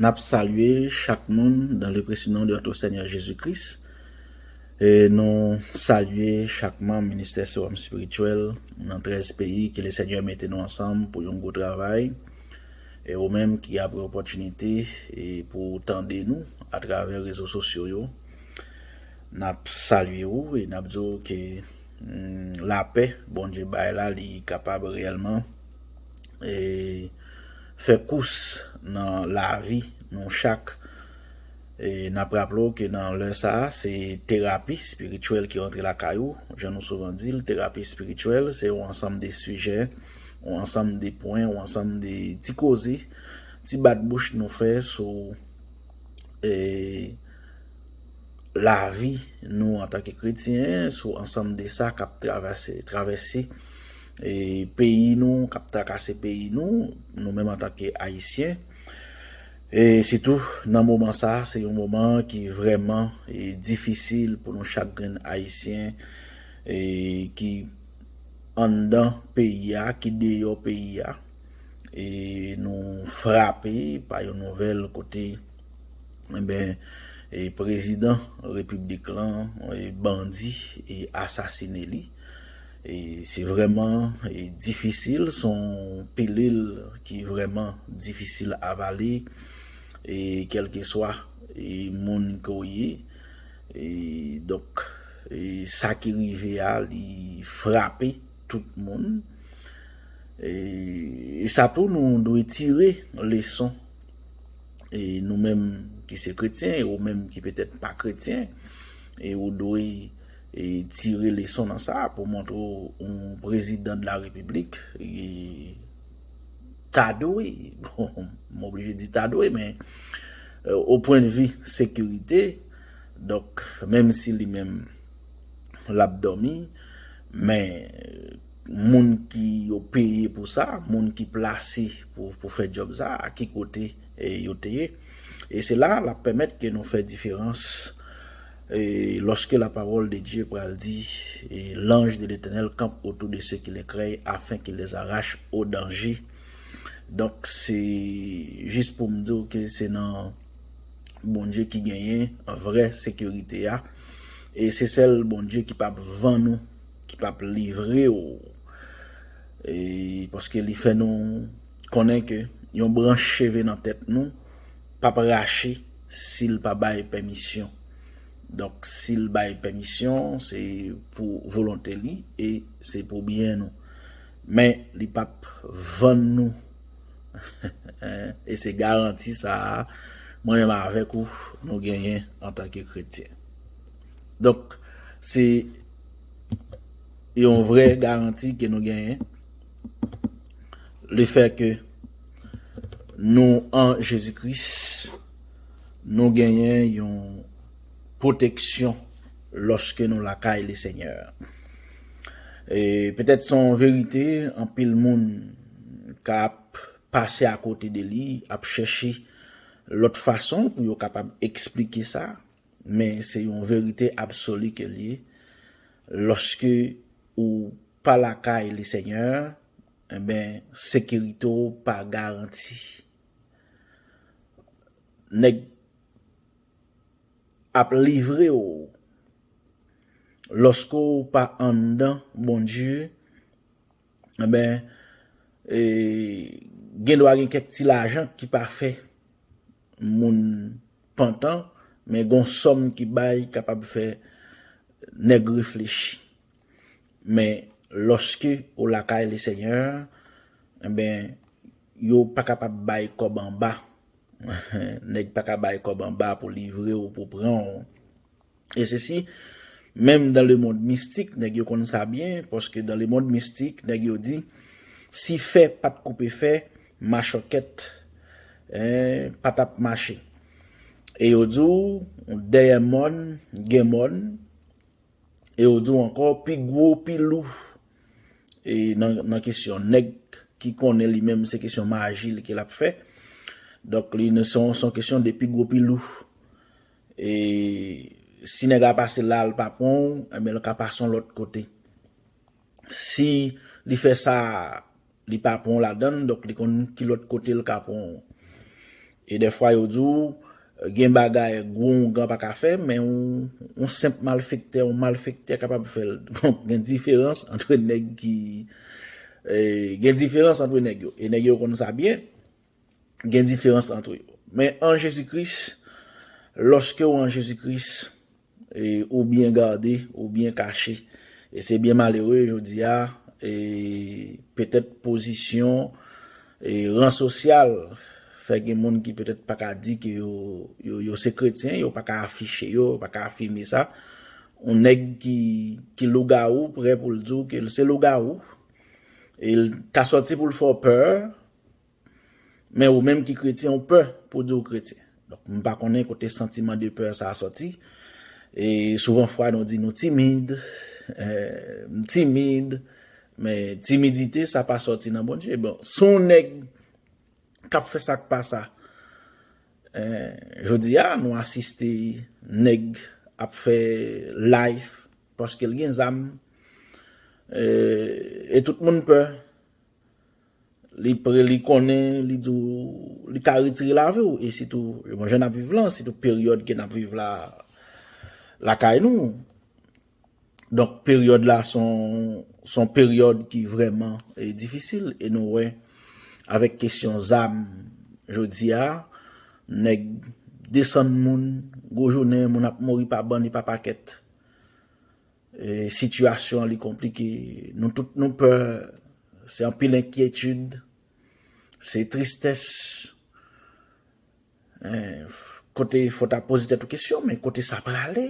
Nap salye chak moun dan le presi non de notre Senyè Jezi Kris. E nou salye chak manm Ministè Sewòm Espirityèl nan 13 peyi ke le Senyè mete nou ansanm pou yon gwo travay. E ou menm ki ap gen opòtinite e pou ou tande nou a travè rezo sosyo yo, nap salye ou e nap di ou ke lapè Bondye bay la li kapab reyèlman e Fè kous nan lavi nou chak. E nap raple w ke nan lè sa a, se terapi spirityèl ki rantre lakay ou. Jan nou souvan di l, terapi spirityèl se yon ansanm de sijè, yon ansanm de pwen, yon ansanm de ti koze, ti bat bouch nou fè sou lavi nou antanke kretyen, sou ansanm de sa kap travèse, travèse. Peyi nou kap trakase peyi nou, nou menm antanke Ayisyen. E sitou nan moman sa, se yon moman ki vrèman difisil pou nou chak grenn Ayisyen ki anndan peyi a, ki deyò peyi a. E nou frape pa yon nouvèl kote enben prezidan repiblik lan bandi asasine li. Se vrèman difisil, se yon pilil ki vrèman difisil avale e kèlkeswa moun ke w ye. Donk sa ki rive a li frape tout moun. E sa tou nou dwe tire leson e nou menm ki se kretyen e ou menm ki petèt pa kretyen e ou dwe tire leson nan sa pou montre w yon prezidan de la repiblik ta dwe, m oblije di ta dwe men o pwen de vi sekirite, donk menm si li menm l ap dòmi men moun ki yo peye pou sa, moun ki plase pou fè djòb sa a ki kote yo te ye e se la l ap pèmèt ke nou fè diferans. Et lorsque la parole de Dieu pral di, et l'ange de l'Eternel campe autour de ceux qui le craignent, afin qu'il les arrache au danger. Donk se jis pou m di w ke se nan Bondye ki genyen vrè sekirite a, e se sèl Bondye ki pap vann ou, ki pap livre w, e paske li fè nou konnen ke yon branch cheve nan tèt nou pap rache. si l pa bay pèmisyon. Donk si l bay pèmisyon se pou volonte li e se pou byen nou. Men li pa p vann nou e se garanti sa a mwen menm avèk ou nou genyen antanke kretyen. Donk se yon vrè garanti ke nou genyen lefèke Nou an Jezi Kris, nou genyen yon pwoteksyon lòske nou lakay Lesenyè. E petèt se yon verite anpil moun ka ap pase akote de li, ap chèche lòt fason pou yo kapab eksplike sa, men se yon verite absoli ke l ye, lòske ou pa lakay Lesenyè, Enben, sekirite w pa garanti. Nèg ap livre w. Lòske w pa anndan Bondye, enben, gendwa gen kèk ti lajan ki pa fè moun pantan, men gon sòm ki bay kapab fè nèg reflechi. Men loske ou lakay le senyè enben yo pa kapab bay kob anba neg pa ka bay kob anba pou livre ou pou pran ou e se si menm dan le mond mistik neg yo konn sa byen paske dan le mond mistik neg yo di si fè pat koupe fè machòkèt pa tap mache e yo di ou dèyè mòn gen mòn. E yo di w ankò pi gwo, pi lou e nan kesyon nèg ki konnen li menm se kesyon maji li ke l ap fè. Donk li se yon kesyon de pi gwo, pi lou. E si nèg la pase la l pa pran w, enben l ka pase yon lòt kote. Si li fè sa. li pa pranw ladann donk li konn ki lòt kotel ka pranw e dèfwa yo diw gen bagay gwo oungan pa ka fè men yon senp malfektè yon malfektè kapab fèl donk gen diferans antre nèg ki gen diferans antre nèg yo e nèg yo konn sa byen gen diferans antre yo men an Jezi Kris lòskew an Jezi Kris E ou byen gade, ou byen kache. E se byen malere jodi a, e petèt pozisyon, e ran sosyal, fè gen moun ki petèt pa ka di ke yo, yo, yo se kretyen, yo pa ka afiche yo, yo pa ka afime sa. Yon nèg ki, ki lougawou prè pou l di w ke l se lougawou. E l ta sòti pou l fè w pè, Men ou menm ki kretyen ou pè pou di ou kretyen. Donk m pa konnen kote santiman de peur sa sòti. E souvan fwa nou di nou timid, m timid, men timidite sa pa sòti nan Bondye. Bon, si yon nèg k ap fè sa k pa sa, jodi a nou asiste nèg ap fè live paske l gen zam e tout moun pè. Li pre, li konnen, li di w, li ka retire lavi w. E sitou, mwen jen ap viv lan, sitou peryòd ke nap viv la, lakay nou. Donk, peryòd la son, son peryòd ki vreman e difisil. E nou wè, avèk kesyon zam, jodi a, nèg desann moun, gwo jounen, moun ap mouri pa bann e pa pakèt. Sitiyasyon li konplike, nou tout nou pè, se anpil enkyetid, se tristès, kote fò ta poze tèt ou kesyon, men kote sa prale?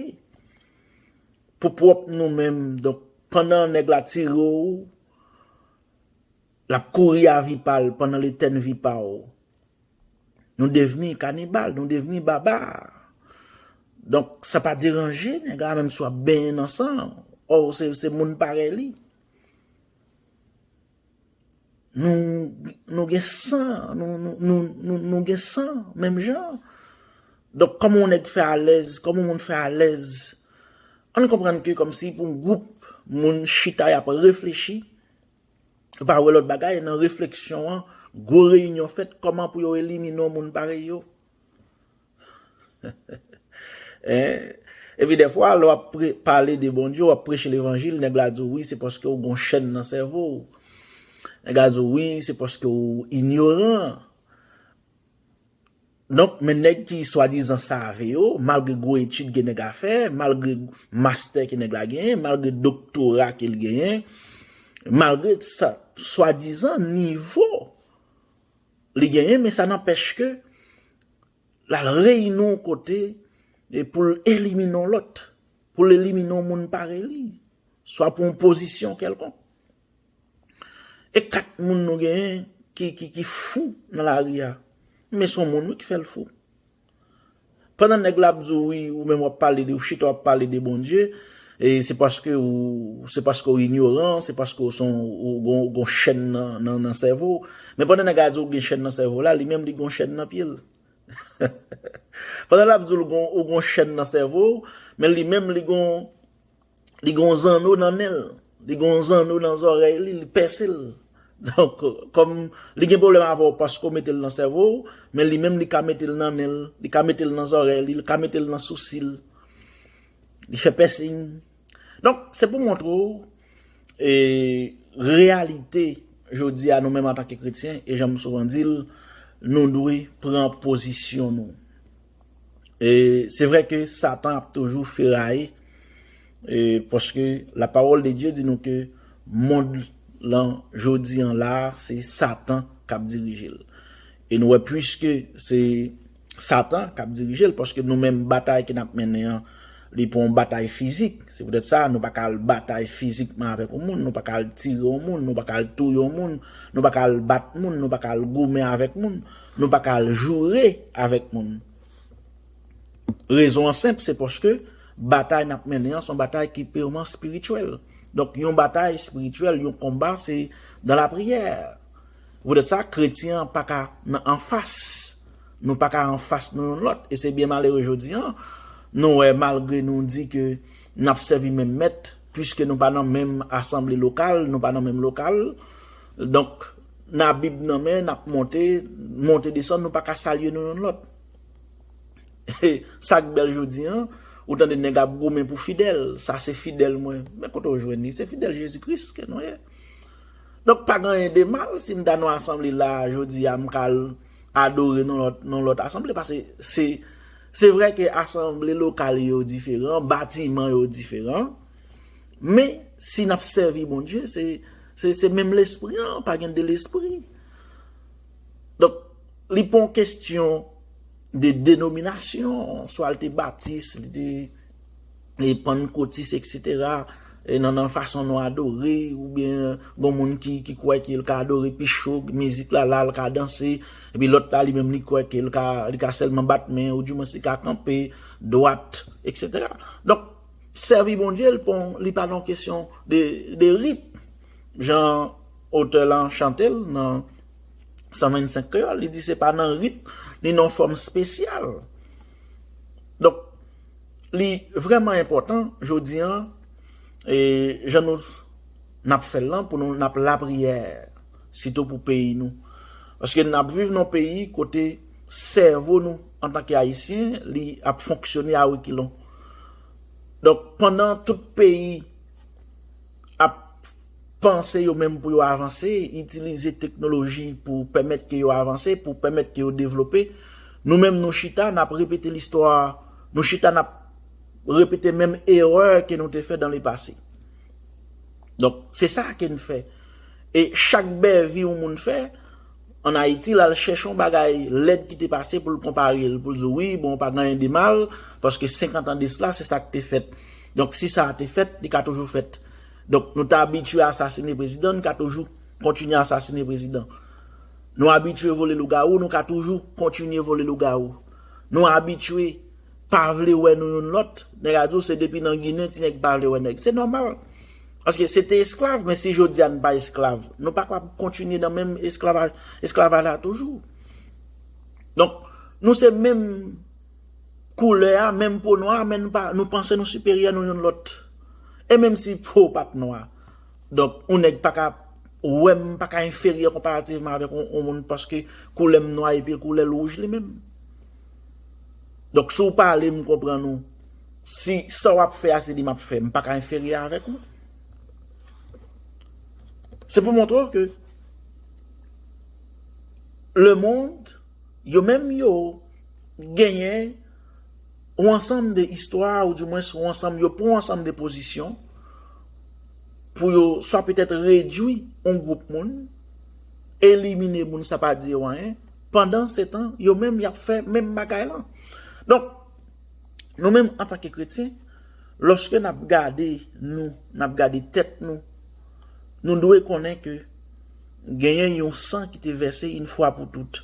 Pou pwòp nou menm, donk pandan nèg la tire ou, Lap kouri a vi pa l pandan l etèn vi pa w. Nou devni kanibal, nou devni babar. Donk sa pa deranje nèg la menm si w ap benyen nan san l, ò w se moun parèy li. Nou gen san, nou gen san menm jan. Donk kòman yon nèg fè alèz, kòman yon moun fè alèz. Ann konprann ke kòmsi pou yon gwoup moun chita y ap reflechi, Yo pa wè lòt bagay nan refleksyon an, gwo reyinyon fèt kòman pou yo elimine yon moun parèy yo. Epi dèfwa lè w ap pale de Bondye, w ap preche levanjil, nèg la di w wi se paske w gen yon chèn nan sèvo w. Nèg la di w wi se paske w inyoran. Donk men nèg ki swadizan save yo, malgre gwo etid ke nèg la fè, malgre mastè ke nèg la genyen, malgre doktora ke li genyen, malgre sa swadizan nivo li genyen men sa nanpèch ke l al reyini yon kote pou l elimine yon lòt, pou l elimine yon moun parèy li, swa pou yon pozisyon kèlkonk. E 4 moun nou genyen ki fou nan lari a. Men son moun wi ki fèl fou. Pandan nèg la ap di w wi ou menm wap pale de ou chita wap pale de Bondye e se paske ou se paske ou inyoran se paske ou son ou gon chèn nan sèvo w. Men pandan nèg la di w gen chèn nan sèvo la li menm li gon chèn nan pye l. Pandan lap di w ou gon chèn nan sèvo w men li menm li gon Li gen yon zanno nan nen l. Li gen yon zanno nan zòrèy li, li pèse l. Donk, kòm li gen pwoblèm avè w paske w mete l nan sèvo w, men li menm li ka mete l nan nen l, li ka mete l nan zòrèy li, li ka mete l nan sousi l. Li fè pèsing. Donk, se pou montre w e reyalite jodi a nou menm antanke kretyen e jan m souvan di l, nou dwe pran pozisyon nou. E se vre ke satan ap toujou feraye, e paske la pawol de Dye di nou ke mond lan jodi an la se satan kap dirije l. E nou wè pwiske se satan kap dirije l, paske nou menm batay ke nap mennen an, li pa yon batay fizik, se poutèt sa nou pa ka al batay fizikman avèk yon moun, nou pa ka al tire yon moun, nou pa ka al touye yon moun, nou pa ka al bat moun, nou pa ka al goumen avèk moun. Nou pa ka al joure avèk moun. Rezon an senp, se paske batay n ap mennen an se yon batay ki pirman espirityèl. Donk, yon batay espirityèl, yon konba, se dan lapriyè. Se poutèt sa, kretyen an pa ka nan anfas. Nou pa ka anfas nou youn lòt. E se byen malere jodi an, nou wè malgre nou di ke n ap sèvi menm mèt, piske nou pa nan menm asanble lokal, nou pa nan menm lokal, donk, N a Bib nan men, n ap monte, monte desann, nou pa ka salye nou youn lòt. E, sa k bèl jodi an, ou tande nèg ap goumen pou fidèl, sa se fidèl mwen. Men kote w jwenn li? Se fidèl Jezi Kris ke nou ye. Donk, pa gen anyen de mal si m ta nan asanble la a jodi a, m ka al adore nan lòt, nan lòt asanble. Pase se, se vre ke asanble lokal yo diferan, batiman yo diferan. Men, si n ap sèvi Bondye, se menm Lespri an, pa gen de Lespri. Donk, li pa yon kestyon de denominasyon, swa li te batis, li te e pann kotis, eksetera, e nan nan fason nou adore, ou byen gon moun ki kwè ke l ka adore pi cho, mizik la la, l ka danse, epi lòt la li menm li kwè ke l ka sèlman bat men, ou di mwen se ka kanpe, dwat, eksetera. Donk. sèvi Bondye l pon li pa nan kesyon de rit jan otè lan chante l nan 125 kreyòl li di se pa nan rit ni nan fòm spesyal donk li vrèman enpòtan jodi an e jan nou n ap fè l lan pou nou n ap lapriyè sitou pou peyi nou paske n ap viv nan peyi kote sèvo nou Antanke Ayisyen, li ap fonksyone a rekilon. Donk, pandan tout peyi ap panse yo menm pou yo avanse, itilize teknoloji pou pèmèt ke yo avanse, pou pèmèt ke yo devlope, nou menm nou chita, n ap repete listwa, nou chita n ap repete menm erè ke nou te fè dan le pase. Donk, se sa ke n fè. E chak bèvi yon moun fè, an Ayiti lal chèche yon bagay lèd ki te pase poul konparel poul di wi bon pa gen anyen de mal paske 50 an desla se sak te fèt donk si sa te fèt li ka toujou fèt donk nou te abitye asasine prezidan nou ka toujou kontinye asasine prezidan nou abitye vole lougawou nou ka toujou kontinye vole lougawou nou abitye pa vle wè nou youn lòt nèg a di w se depi nan ginen ti nèg pa vle wè nèg se nòmal. Paske se te esklav, men si jodi a nou pa esklav, nou pa kapab kontinye nan menm esklavaj la toujou. Donk, nou se menm koulè a, menm po nwa, men nou panse nou siperyè nou yon lòt. E menm si po pa t nwa. Donk, ou nèk pa ka wè m, pa ka enferyè konparativman avèk ou moun paske koulè m nwa epi koulè l wouj li menm. Donk, si w pale m konprann ou. Si sa wap fè a se li map fè, m paka enferyè avèk ou. Se pou montre w ke le mond yo menm yo genyen ou ansanm de istwa ou di mwen sou ansanm yo pran ansanm de pozisyon pou yo swa petèt redwi yon gwoup moun, elimine moun sa pa di yo anyen, pandan se tan yo menm yap fè menm bagay lan. Donk. Nou menm antanke kretyen, lòske n ap gade nou, n ap gade tèt nou, nou dwe konnen ke genyen yon san ki te vèse yon fwa pou tout.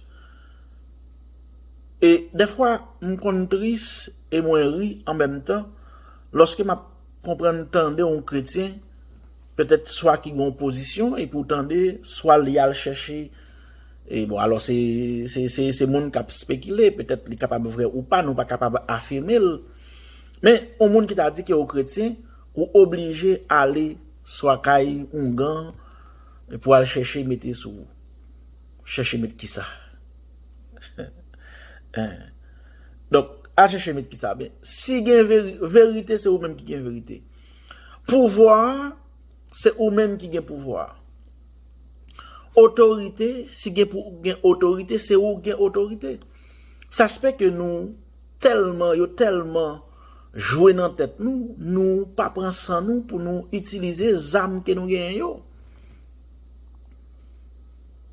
E dèfwa m konn tris e mwen ri an menm tan, lòske m ap konprann tande yon kretyen, petèt swa ki gen yon pozisyon, epi w tande swa li al chèche, E bon alò se se moun kap spekile, petèt li kapab vrè ou pa, nou pa kapab afime l. Men, yon moun ki ta di ke ou kretyen, ou oblije ale swa kay oungan pou al chèche mete sou ou. Chèche met kisa? Donk, al chèche met kisa? Si gen verite, se ou menm ki gen verite. Pouvwa a. Se ou menm ki gen pouvwa. Otorite, si gen pou gen otorite, se ou gen otorite. Sa se fè ke nou tèlman, yo tèlman jwe nan tèt nou, nou pa pran san nou pou nou itilize zam ke nou genyen yo.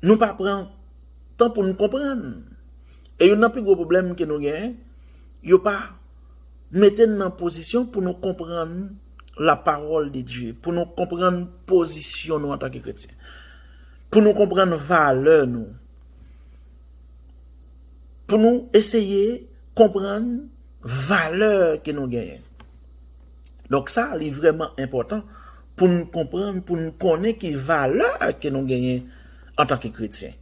Nou pa pran tan pou nou konprann. E youn nan pi gwo pwoblèm ke nou genyen, yo pa mete n nan pozisyon pou nou konprann. la pawòl de Dye, pou nou konprann pozisyon nou antanke kretyen, pou nou konprann valè nou, pou nou eseye konprann valè ke nou genyen. Donk sa li vreman enpòtan pou nou konprann, pou nou konnen ki valè ke nou genyen antanke kretyen.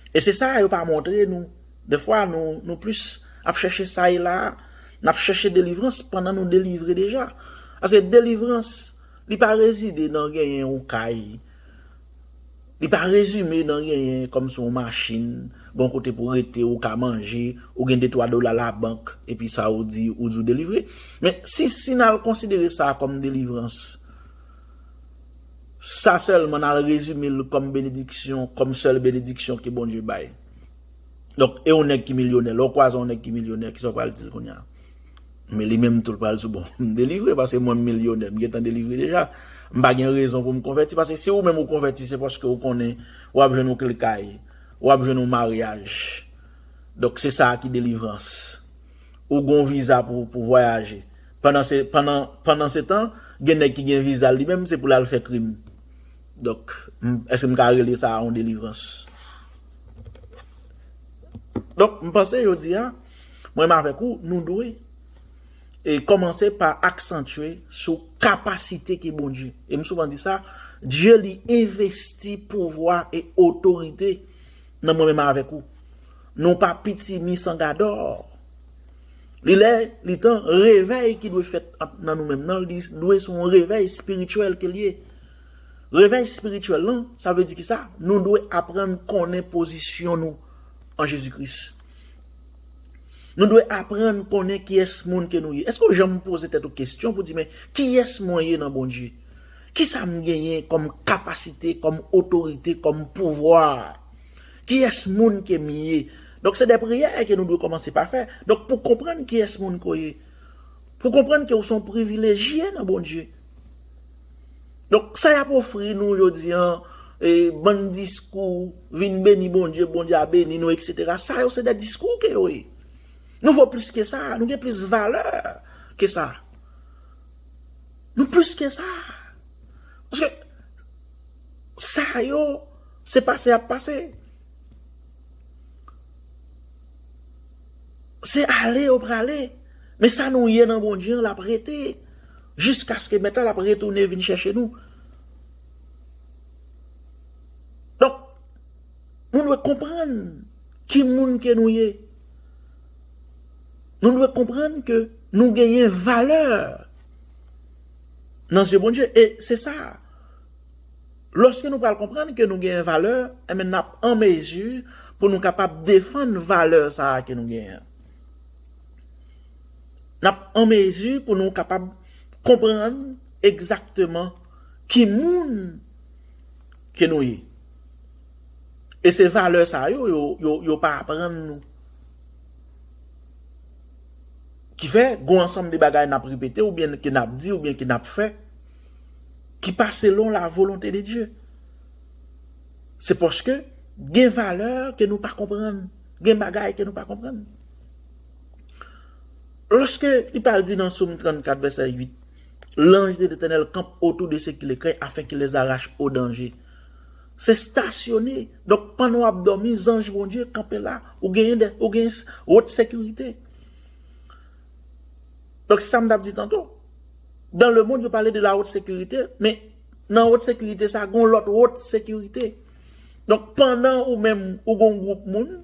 E se sa yo pa montre nou. Dèfwa nou nou plis ap chèche sa e la a, n ap chèche delivrans pandan nou delivre deja. Paske delivrans li pa rezide nan genyen yon kay, li pa rezime nan genyen kòmsi yon machin, gen yon kote pou w rete, ou ka manje, ou gen de twa dola labank epi sa ou di ou di ou delivre. Men si si n al konsidere sa kòm delivrans, sa sèlman n al rezime l kòm benediksyon, kòm sèl benediksyon ke Bondye bay. Donk, e yon nèg ki milyonè, lè w kwaze yon nèg ki milyonè, ki sa w pral di l kounye a? Men li menm tou l pral di w, bon, m delivre paske mwen m milyonè, m gen tan delivre deja. M pa gen rezon pou m konvèti paske si ou menm ou konvèti se paske ou konnen w ap jwenn yon kle kay, w ap jwenn yon maryaj. Donk, se sa a ki delivrans. Ou gen yon viza pou ou vwayaje. Pandansetan, gen nèg ki gen viza l li menm se pou l al fè krim. Donk, èske m ka rele sa a yon delivrans? Donk, m panse jodi a, mwen menm avèk ou, nou dwe e kòmanse pa aksantye sou kapasite ki bon Dye. E m souvan di sa, Dye li envesti pouvwa e otorite nan mwen menm avèk ou. Nou pa pitimi san gadò. Li lè, li tan, revèy ki dwe fèt nan nou menm nan, li dwe son revèy espirityèl ke l ye. Revèy espirityèl lan, sa vle di ki sa? Nou dwe aprann konnen pozisyon nou an Jezi Kris. Nou dwe aprann konnen kiyès moun ke nou ye. Èske ou janm poze tèt ou kesyon pou di men, kiyès mwen ye nan Bondye? Kisa m genyen kòm kapasite, kòm otorite, kòm pouvwa? Kiyès moun ke m ye? Donk se de priyè ke nou dwe kòmanse pa fè. Donk pou konprann kiyès moun ke w ye. Pou konprann ke ou se yon privilejye nan Bondye. Donk sa yap ofri nou jodi an e bann diskou vin beni Bondye, Bondye a beni nou etc. Sa yo se de diskou ke yo ye. Nou vo plis ke sa, nou gen plis valè ke sa. Nou plis ke sa. Paske sa yo se pase ap pase. Se ale yo prale, men sa nou ye nan Bondye an l ap rete jiskaske Mèt la l ap retounen vin chèche nou. Donk, nou dwe konprann ki moun ke nou ye. Nou dwe konprann ke nou genyen valè nan zye Bondye. E se sa a. Lòske nou pral konprann ke nou genyen valè, enben n ap an mezi pou nou kapab defann valè sa a ke nou genyen an. N ap an mezi pou nou kapab konprann egzakteman ki moun ke nou ye. E se valè sa yo, yo pa aprann nou. Ki fè, gon ansanm de bagay n ap repete oubyen ke n ap di oubyen ke n ap fè, ki pa selon la volonte de Dye. Se paske gen valè ke nou pa konprann, gen bagay ke nou pa konprann. Lòske li pral di nan Somme 34 vèsè 8, L'ange de l'Etènèl kanp otou de se ki le krey afen ki lèz arache o danje. Se stasyone, donk pandan w ap dòmi, zanj Bondye kanpe la, ou gen wot sekirite. Donk se sa m t ap di tanto. Dan le mond yo pale de la haute securite, men nan haute securite sa gon lot haute securite. Donk pandan ou menm ou gon group moun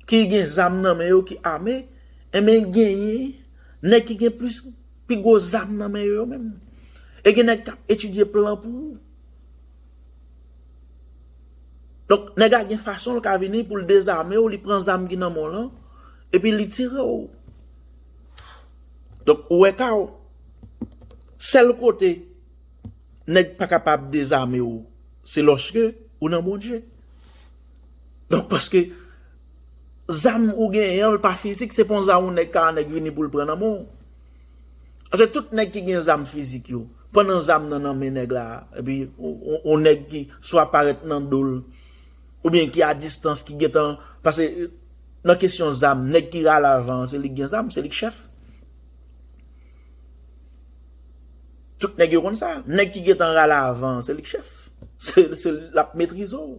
ki gen zam nan men yo ki ame, en men genyen neg ki gen plis pi gwo zam nan men yo menm. E gen neg kap etidye plan pou ou. Donk neg la gen fason l ka vini pou l dezame ou, li pran zam ki nan men w lan, epi li tire ou. Donk ou wè kao, sèl kote nèg pa kapab dezame w se lòske ou nan Bondye. Donk paske zam ou genyen an l pa fizik se pa yon zam yon nèg ka yon nèg vini pou l pran nan men w. Paske tout nèg ki gen zam fizik yo, pandan zam nan nan men nèg la, epi yon nèg ki swa parèt nan do l. Oubyen ki a distans ki gentan, pase nan kesyon zam, nèg ki rale avan an se li ki gen zam, se li ki chèf. Tout nèg yo konn sa, nèg ki gentan rale avan an se li ki chèf. Se l ap metrize w.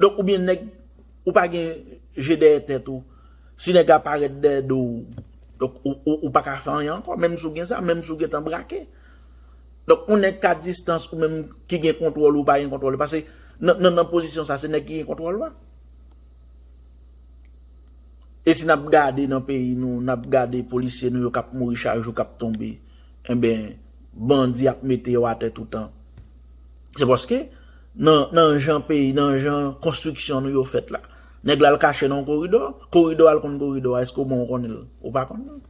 Donk oubyen nèg, ou pa gen je dèyè tèt ou, si nèg la parèt dèyè do w, donk ou pa ka fè anyen ankò, menm si w gen zam, menm si w gentan brake. Donk on nèg ka distans ou menm ki gen kontwòl ou pa gen kontwòl pase nan pozisyon sa se nèg ki gen kontwòl la. E si nap gade nan peyi nou nap gade polisye nou yo kap mouri chak jou kap tonbe enben bandi ap mete yo atè toutan. Se paske nan jan peyi nan jan konstriksyon nou yo fèt la. Nèg la al kache nan yon koridò, koridò al konn koridò a eske ou menm ou konnen l ou pa konn l.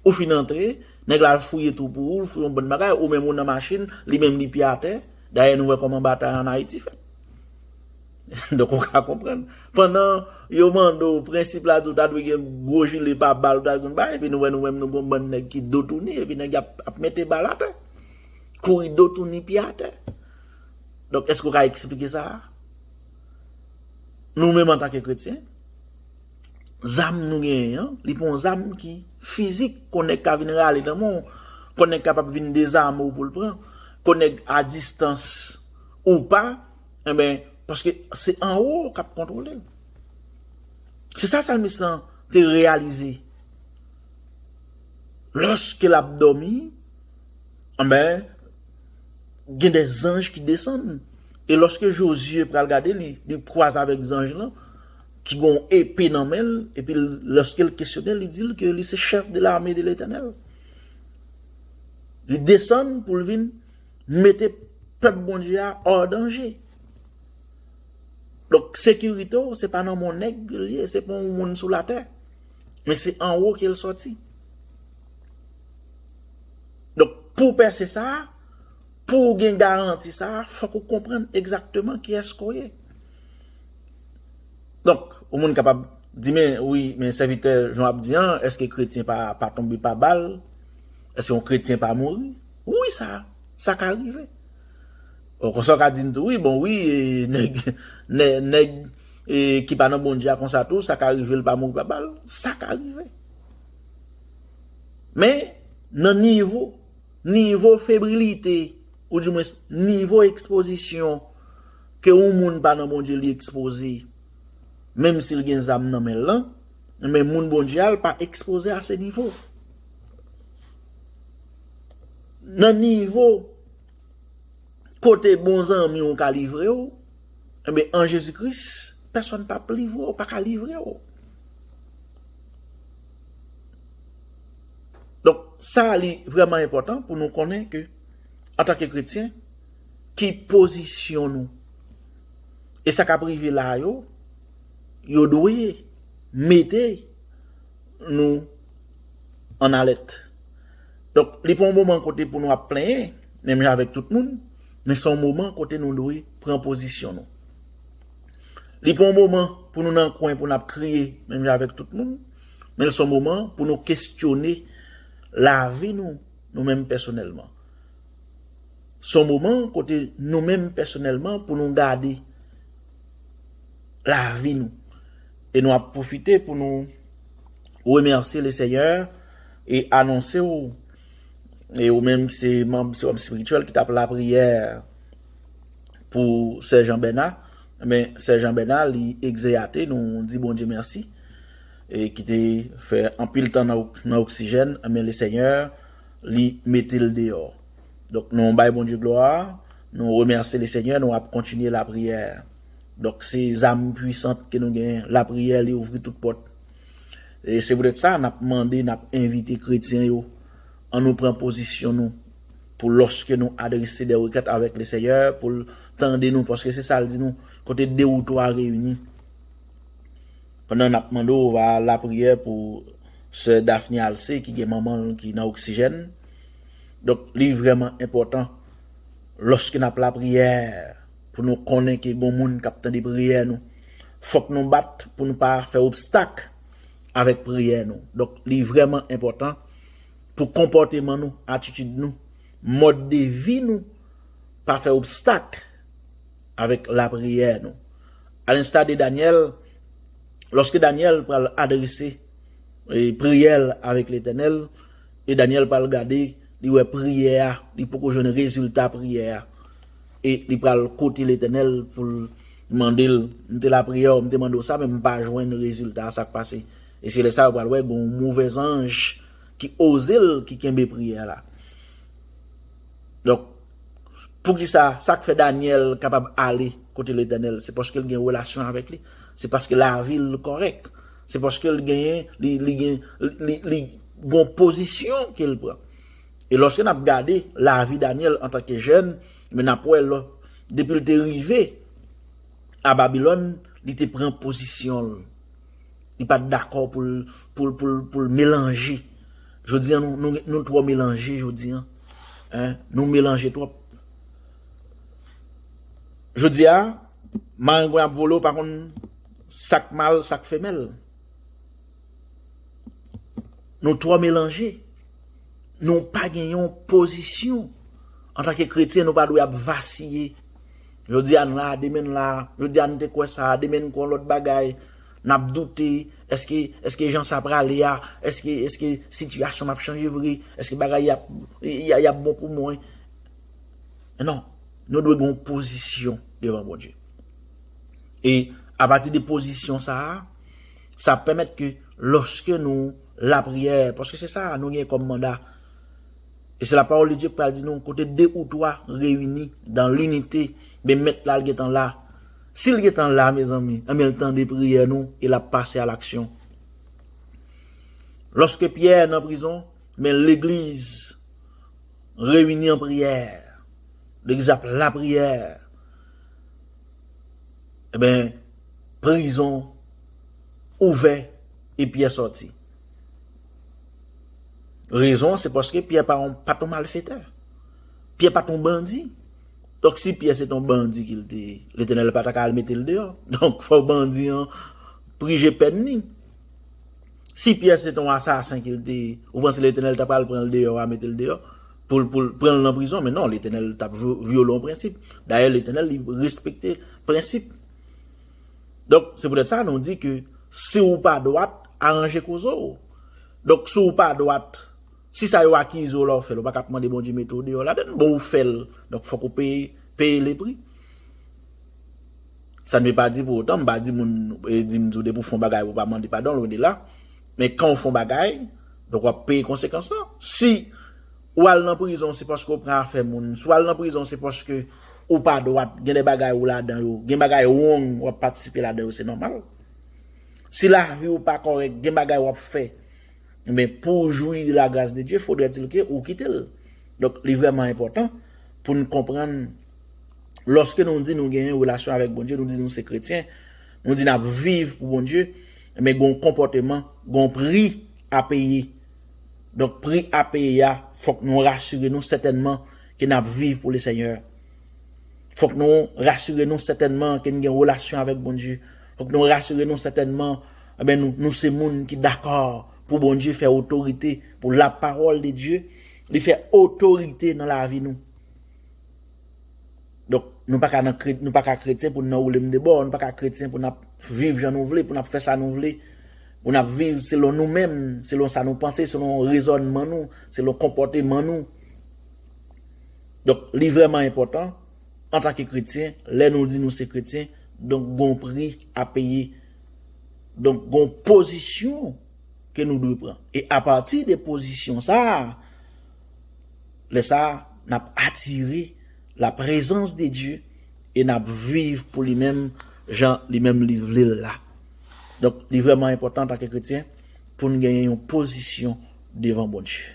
Ou fin antre. Nèg la al fouye twou pou ou, l fouye yon bann bagay, ou menm ou nan machin, li menm li pye atè, dayè nou wè kòman batay an Ayiti fèt. Donk ou ka konprann. Pandan yo mande w prensip la di w ta dwe gen gwo jile pa bal ou ta dwe konn bay epi nou wè nou menm nou gen yon bann nèg ki do touni epi nèg yo ap mete bal atè. Kouri do touni pye atè. Donk èske ou ka eksplike sa a? Nou menm antanke kretyen? Zam nou genyen an, li pa yon zam ki fizik, kon nèg ka vin rale nan men w, kon nèg kapab vin dezame w pou l pran, kon nèg a distans ou pa, enben, paske se anwo w kap kontwole l. Se sa salmis lan te reyalize. Lòske l ap dòmi, enben, gen de zanj ki desann, e lòske Jozye pral gade li, li kwaze avèk zanj lan, ki gen yon epe nan men l, epi lòske l kesyone l, li di l ke li se chèf de lame de Letènèl. Li desann pou l vin mete pèp Bondye a ò danje. Donk, sekirite w, se pa nan men yon nèg li ye, se pa yon moun sou latè, men se anwo ke l sòti. Donk, pou w pèse sa, pou w gen garanti sa, fòk ou konprann egzakteman kiyès ke w ye. Donk, yon moun kapab di men, wi, men sèvitè jan w ap di an, èske kretyen pa tonbe pa bal? Èske yon kretyen pa mouri? Wi, sa, sa ka rive. Bon, konsa w ka di m tou, wi, bon, wi, nèg, nèg ki pa nan Bondye a konsa tou, sa ka rive l pa mouri pa bal? Sa ka rive. Men, nan nivo, nivo febrilite, ou di mwens, nivo ekspozisyon. Ke yon moun pa nan Bondye li ekspoze menm sil gen zam nan menl lan, men moun Bondye a l pa ekspoze a se nivo. Nan nivo kote bon zanmi w ka livre w, enben an Jezi Kris pèsòn pap livre w, pa ka livre w. Donk sa li vrèman enpòtan pou nou konnen ke antanke kretyen, ki pozisyon nou. E sa k ap rive la yo, yo dwe mete nou an alèt. Donk, li pa yon moman kote pou nou ap plenyen, menm jan avèk tout moun, men se yon moman kote nou dwe pran pozisyon nou. Li pa yon moman pou nou nan kwen pou n ap kriye, menm jan avèk tout moun, men l se yon moman pou nou kesyone lavi nou, nou menm pèsonèlman. Son moman kote nou menm pèsonèlman pou nou gade lavi nou. E nou ap pwofite pou nou remèsye le Senyè e anonse w e ou menm ki se manb sewòm espirityèl ki t ap lapriyè pou sè Jean Bernard men sè Jean Bernard li egzeyate nou di Bondye mèsi e ki te fè anpil tan nan oksijèn men le Senyè li mete l deyò. Donk nou bay Bondye glwa, nou remèsye le Senyè, nou ap kontinye lapriyè. Donk se zam pwisant ke nou gen, lapriyè li ouvri tout pòt. E se poutèt sa n ap mande, n ap envite kretyen yo, an nou pran pozisyon nou pou lòske nou adrese de rekèt avèk le Senyè pou l tande nou, paske se sa l di nou, kote de ou twa reyini. Pandan n ap mande w va lapriyè pou sè Daphne Alcé ki gen manman l ki nan oksijèn. Donk li vrèman enpòtan lòske n ap lapriyè pou nou konnen ke gon moun k ap tande priyè nou. Fòk nou bat pou nou pa fè obstak avèk priyè nou. Donk li vrèman enpòtan pou konpòteman nou, atitid nou, mòd de vi nou pa fè obstak. avèk lapriyè nou. Alensta de Danyèl, lòske Danyèl pral adrese priyè l avèk Letènèl, e Danyèl pral gade, li wè priyè a, li poko jwenn rezilta priyè a, e li pral kote Letènèl pou l mande l, M te lapriyè w, m te mande w sa, men m pa jwenn rezilta a, sa k pase? E se lè sa yo pral wè gen yon move zanj ki oze l, ki kenbe priyè la. Donk. Poukisa sa k fè Danyèl kapab ale kote Letènèl? Se paske l gen relasyon avèk li, se paske lavi l kòrèk, se paske l genyen li gen li gon pozisyon ke l pran. E lòske n ap gade lavi Danyèl antanke jèn, men n ap wè lò depi l te rive a Babilòn, li te pran pozisyon l. Li pat dakò pou l pou l pou l pou l melanje. Jodi an nou nou nou twò melanje jodi an. Hein nou melanje twòp. Jodi a marengwen ap vole ou pa konn sak mal sak femèl. Nou twò melanje. Nou pa gen yon pozisyon. Antanke kretyen nou pa dwe ap vasiye. Jodi a n la demen n la, jodi a n te kwè sa, demen n kwè yon lòt bagay. Nap doute, eske, eske jan sa prale a, eske, eske sitiyasyon ap chanje vre, eske bagay yap, yap bon pou mwen. Non, nou dwe gen yon pozisyon devan Bondye. E, apati de pozisyon sa a, sa ap pèmèt ke loske nou lapriyè, paske se sa a nou gen kòm manda, e se la pawòl de Dye ki pral di nou, kote de ou twa reyini dan linite, men mèt la li gentan la. Si l gentan la mezanmi, anben l tande priyè nou e l ap pase a laksyon. Lòske Pyè nan prizon, men legliz reyini an priyè, legliz ap lapriyè, anben prizon ouvè e Pyè sòti. Rezon an se paske Pyè pa t yon malfetè, Pyè pa t yon bandi. Donk si Pyè se te yon bandi ke l te ye, Letènèl pa ta ka al mete l deyò. Donk fòk bandi an prije pèn ni. Si Pyè se te yon asasen ke l te ye, ou panse Letènèl ta pral pran l deyò a mete l deyò? Pou l pran l nan prizon? Men non, Letènèl ta vyole yon prensip. Dayè Letènèl li respekte prensip. Donk se poutèt sa nou di ke si ou pa dwat, aranje koze w. Donk si w pa dwat, Si sa yo akize w la ou fè l ou pa ka ap mande Bondye mete w deyò ladann. Bon ou fè l donk fòk ou peye peye le pri. Sa ne ve pa di pou otan m pa di moun e di m di w depi w fè yon bagay pou w pa mande padon lwen de la. Men kan w fè yon bagay donk w ap peye konsekans lan. Si ou al nan prizon se paske ou pran afè moun. Si w al nan prizon se paske ou pa dwat gen de bagay ou ladan yo. Gen bagay wrong w ap patisipe ladan yo se nòmal. Si lavi w pa kòrèk gen bagay w ap fè. Men pou w jwi la gras de Dye fodrètil ke ou kite l. Donk li vrèman enpòtan pou n konprann lòske nou di nou genyen relasyon avèk Bondye, nou di nou se kretyen, nou di n ap viv pou Bondye, men gon konpòteman, gon pri a peye. Donk pri a peye a fòk nou rasire nou sètènman ke n ap viv pou Lesenyè. Fòk nou rasire nou sètènman ke n gen relasyon avèk Bondye. Fòk nou rasire nou sètènman eh nou se moun ki dakò pou Bondye fè otorite, pou lapawòl de Dye li fè otorite nan lavi nou. Donk nou pa ka nan nou pa ka kretyen pou nou nan woule m de bò, nou pa ka kretyen pou nap viv jan nou vle, pou nap fè sa nou vle, pou nap viv selon nou menm, selon sa nou panse, selon rezònman nou, selon konpòteman nou. Donk li vrèman enpòtan. antanke kretyen, lè nou di nou se kretyen, donk gon pri a peye, donk gon pozisyon ke nou dwe pran. E apati de pozisyon sa a, lè sa a, n ap atire la prezans de Dye e n ap viv pou li menm jan li menm li vle l la. Donk, li vrèman enpòtan antanke kretyen pou n genyen yon pozisyon devan Bondye.